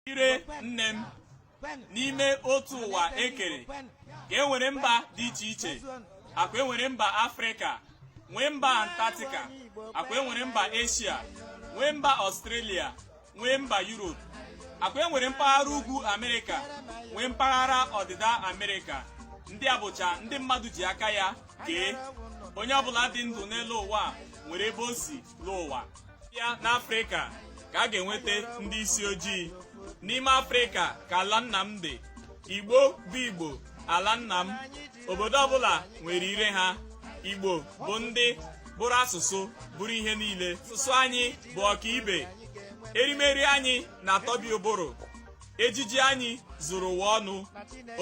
ire nne m n'ime otu ụwa ekere ka e nwere mba dị iche iche akwa enwere mba afrịka nwee mba antarctica akwa enwere mba eshia nwee mba ọstrelia nwee mba yuropu akwa enwere mpaghara ugwu amerịka nwee mpaghara ọdịda amerịka ndị a bụcha ndị mmadụ ji aka ya kee onye ọbụla dị ndụ n'elu ụwa nwere ebe o si n'ụwa bịa n'afrịka ka a ga-enweta ndị isi ojii n'ime afrịka ka ala nna m dị igbo bụ igbo ala nna m obodo ọbụla nwere ire ha igbo bụ ndị bụrụ asụsụ bụrụ ihe niile asụsụ anyị bụ ọkaibe erimeri anyị na-atọbi ụbụrụ ejiji anyị zuru ụwa ọnụ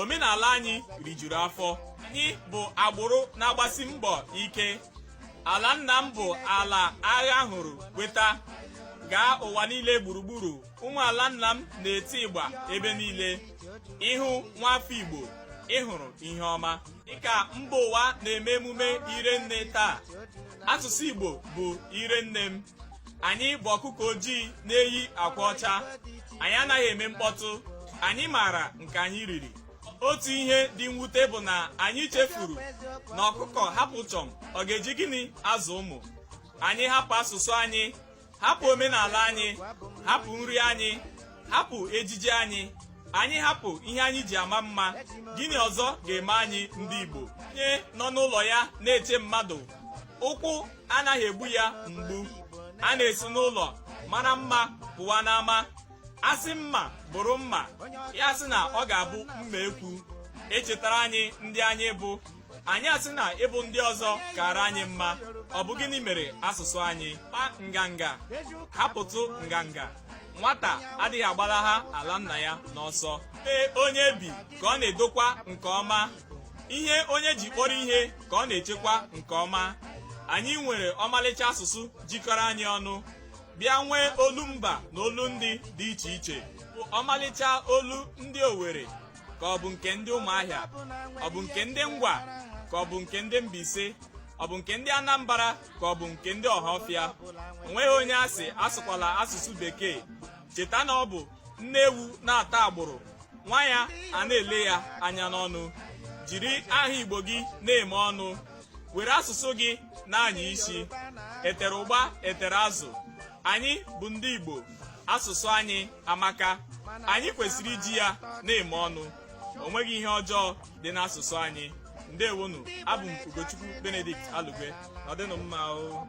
omenala anyị rijuru afọ anyị bụ agbụrụ na-agbasi mbọ ike ala nna m bụ ala agha hụrụ weta gaa ụwa niile gburugburu ụmụ ala nna m na-eti ịgba ebe niile ị hụ nwafọ igbo ị hụrụ ihe ọma dịka mba ụwa na-eme emume ire nne taa asụsụ igbo bụ ire nne m anyị bụ ọkụkọ ojii na-eyi akwa ọcha anyị anaghị eme mkpọtụ anyị maara nke anyị riri otu ihe dị mwute bụ na anyị chefuru na ọkụkọ hapụ chọm ọ ga-eji gịnị azụ ụmụ anyị hapụ asụsụ anyị hapụ omenala anyị hapụ nri anyị hapụ ejiji anyị anyị hapụ ihe anyị ji ama mma gịnị ọzọ ga-eme anyị ndị Igbo onye nọ n'ụlọ ya na-eche mmadụ ụkwụ anaghị egbu ya mgbu a na-esi n'ụlọ mara mma pụwa n'ama a sị mma bụrụ mma ya asị na ọ ga-abụ mma ekwu e chetara anyị ndị anyị bụ anyị asị na ịbụ ndị ọzọ kara anyị mma ọ bụ gịnị mere asụsụ anyị kpa nganga hapụtụ nganga nwata adịghị agbalaha ala nna ya n'ọsọ ebe onye bi ka ọ na-edokwa nke ọma ihe onye ji kpọrọ ihe ka ọ na-echekwa nke ọma anyị nwere ọmalịcha asụsụ jikọrọ anyị ọnụ bịa nwee olu mba na olu ndị dị iche iche ọmalịcha olu ndị Owerri ka ọ bụ nke ndị Ụmụahịa ọ bụ nke ndị Ngwa ka ọ bụ nke ndị Mbaise ọ bụ nke ndị Anambra ka ọ bụ nke ndị Ọhafịa o nweghị onye a sị asụkwala asụsụ bekee cheta na ọ bụ nne ewu na-ata agbụrụ nwa ya ana-ele ya anya n'ọnụ jiri aha igbo gị na-eme ọnụ were asụsụ gị na-anya isi etere ụgba etere azụ anyị bụ ndị igbo asụsụ anyị amaka anyị kwesịrị iji ya na-eme ọnụ o nweghị ihe ọjọọ dị n'asụsụ anyị ndewonụ abụ m ugochukwu benedict alugwe ọ dịnụ mma o